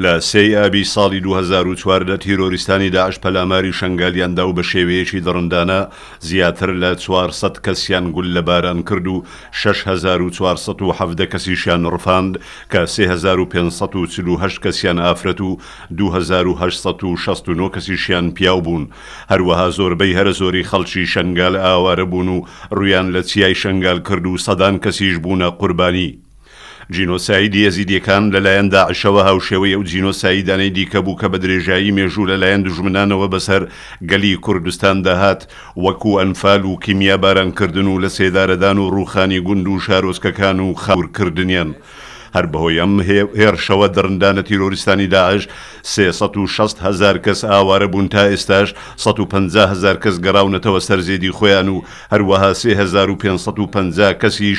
لە سێی ئابی ساڵی دوو هەزار و چواردە تیرۆریستانی داعش پەلاماری شەنگالیان دا و بە شێوەیەکی دڕندانە زیاتر لە چوار سەد کەسیان گوللە باران کرد و شەش هەزار و چوار سەد و حەڤدە کەسیشیان ڕفاند کە سێ هەزار و پێنج سەد و چل و هەشت کەسیان ئافرەت و دوو هەزار و هەشت سەد و شەست و نۆ کەسیشیان پیاو بوون هەروەها زۆربەی هەرە زۆری خەڵکی شەنگال ئاوارە بوون و ڕوویان لە چیای شەنگال کرد و سەدان کەسیش بوونە قوربانی. جینۆسایدی ئێزیدیەکان لەلایەن داعشەوە هاوشێوەی ئەو جینۆسایدانەی دیکە بوو کە بە درێژایی مێژوو لەلایەن دوژمنانەوە بەسەر گەلی کوردستاندا هات وەکو ئەنفال و کیمیاباران کردن و لەسێدارەدان و ڕووخانی گوند و شارۆچکەکان و خاور کردنیان هەر بەهۆی ئەم هێرشەوە دڕندانە تیرۆریستانی داعش سێ سەد و شەست هەزار کەس ئاوارە بوون تا ئێستاش سەد و پەنجا هەزار کەس گەڕاونەتەوە سەر زێدی خۆیان و هەروەها سێ هەزار و پێنج سەد و پەنجا کەسیش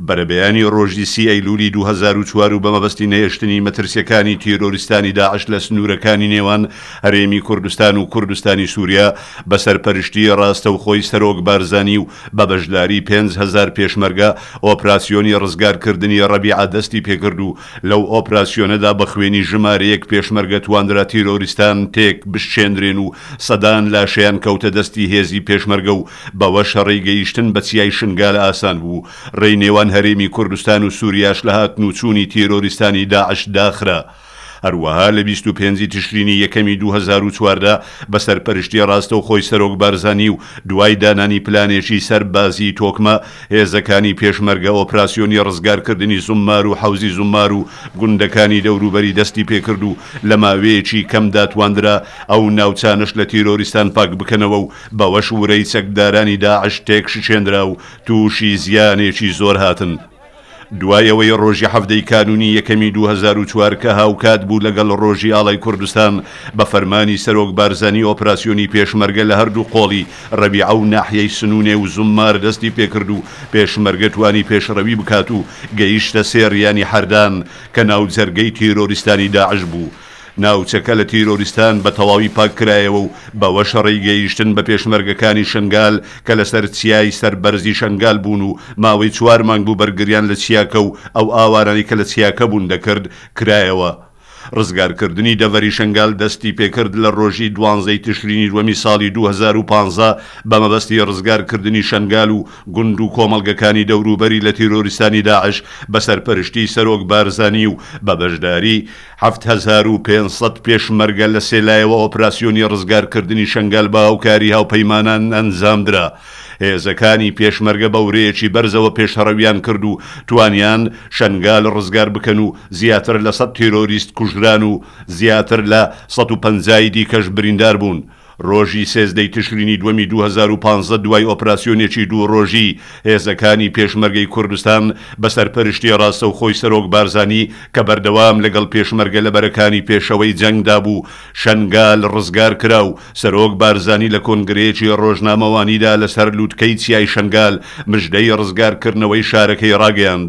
بەرەبەیانی ڕۆژی سی ئەیلولی دوو هەزار و چوار و بە مەبەستی نەهێشتنی مەترسیەکانی تیرۆریستانی داعش لە سنوورەکانی نێوان هەرێمی کوردستان و کوردستانی سوریا بە سەرپەرشتی ڕاستەوخۆی سەرۆک بارزانی و بە بەشداری پێنج هەزار پێشمەرگە ئۆپراسیۆنی ڕزگارکردنی ڕەبیعە دەستی پێکرد و لەو ئۆپراسیۆنەدا بە خوێنی ژمارەیەک پێشمەرگە توانرا تیرۆریستان تێک بشکێندرێن و سەدان لاشەیان کەوتە دەستی هێزی پێشمەرگە و بەوەش ڕێی گەیشتن بە چیای شنگال ئاسان بوو، ڕێی نێوان هەرێمی کوردستان و سوریاش لە هاتن و چوونی تیرۆریستانی داعش داخرا. هەروەها لە بیست و پێنج تشرینی یەکەمی دوو هەزار و چواردە بە سەرپەرشتی ڕاستەوخۆی سەرۆک بارزانی و دوای دانانی پلانێکی سەربازیی تۆکمە، هێزەکانی پێشمەرگە ئۆپراسیۆنی ڕزگارکردنی زوممار و حەوزی زوممار و گوندەکانی دەوروبەری دەستی پێکرد و لە ماوەیەکی کەمدا تواندرا ئەو ناوچانەش لە تیرۆریستان پاکبکەنەوە و بەوەش ورەی چەکدارانی داعش تێکشکێنرا و تووشی زیانێکی زۆر هاتن. دوای ئەوەی ڕۆژی حەڤدە ی کانوونی یەکەمی دوو هەزار و چوار کە هاوکات بوو لەگەڵ ڕۆژی ئاڵای کوردستان بە فەرمانی سەرۆک بارزانی ئۆپراسیۆنی پێشمەرگە لە هەردوو قۆڵی ڕەبیعە و ناحیەی سنوونێ و زوممار دەستی پێکرد و پێشمەرگە توانی پێشڕەوی بکات و گەیشتە سێ ریانی حەردان کە ناوجەرگەی تیرۆریستانی داعش بوو ناوچەکە لە تیرۆریستان بە تەواوی پاککرایەوە و بەوەش ڕێیگەیشتن بە پێشمەرگەکانی شنگال کە لەسەر چیای سەر بەرزی شنگال بوون و ماوەی چوار مانگ بوو بەرگریان لە چیاکە و ئەو ئاوارانەی کە لە چیاکە بوون دەکرد کرایەوە. ڕزگارکردنی دەڤەری شنگال دەستیپێکرد لە ڕۆژی دوانزەی تشرینی دووەمی ساڵی دوو هەزار و پازدە بە مەبەستی ڕزگارکردنی شنگال و گوند و کۆمەڵگەکانی دەوروبەری لە تیرۆریستانی داعش بە سەرپەرشتیی سەرۆک بارزانی و بە بەشداریی حەفت هەزار و پێنج سەد پێشمەرگە لە سێ لایەوە ئۆپراسیۆنی ڕزگارکردنی شەنگال بە هاوکاری هاوپەیمانان ئەنجامدرا. هێزەکانی پێشمەرگە بە ورەیەکی بەرزەوە پێشهڕەویان کرد و توانیان شەنگال ڕزگار بکەن و زیاتر لە سەد تیرۆریست کوژران و زیاتر لە سەد و پەنجا ی دیکەش بریندار بوون. ڕۆژی سێزدەی تشرینی دووەمی دوو هەزار و پازدە دوای ئۆپراسیۆنێکی دوو ڕۆژی هێزەکانی پێشمەرگەی کوردستان بە سەرپەرشتی ڕاستەوخۆی سەرۆک بارزانی کە بەردەوام لەگەڵ پێشمەرگە لە بەرەکانی پێشەوەی جەنگدا بوو شەنگال ڕزگار کرا و سەرۆک بارزانی لە کۆنگرەیەکی ڕۆژنامەوانیدا لەسەر لوتکەی چیای شەنگال مژدەی ڕزگارکردنەوەی شارەکەی ڕاگەیاند.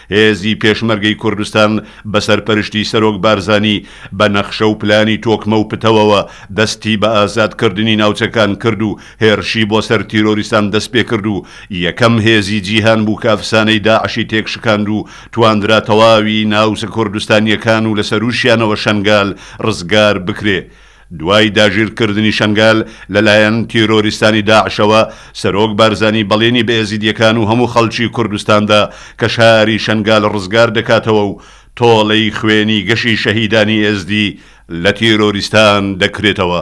هێزی پێشمەرگەی کوردستان بە سەرپەرشتی سەرۆک بارزانی بە نەخشە و پلانی تۆکمە و پتەوەوە دەستی بە ئازاد کردنی ناوچەکان کرد و هێرشی بۆ سەر تیرۆریستان دەست پێ کرد و یەکەم هێزی جیهان بوو کە ئەفسانەی داعشی تێک شکاند و تواندرا تەواوی ناوچە کوردستانیەکان و لە سەرووشیانەوە شەنگال ڕزگار بکرێ. دوای داگیرکردنی شەنگال لەلایەن تیرۆریستانی داعشەوە، سەرۆک بارزانی بەڵێنی بە ئێزیدییەکان و هەموو خەڵکی کوردستان دا کە شاری شەنگال ڕزگار دەکاتەوە و تۆڵەی خوێنی گەشی شەهیدانی ئێزدی لە تیرۆریستان دەکرێتەوە.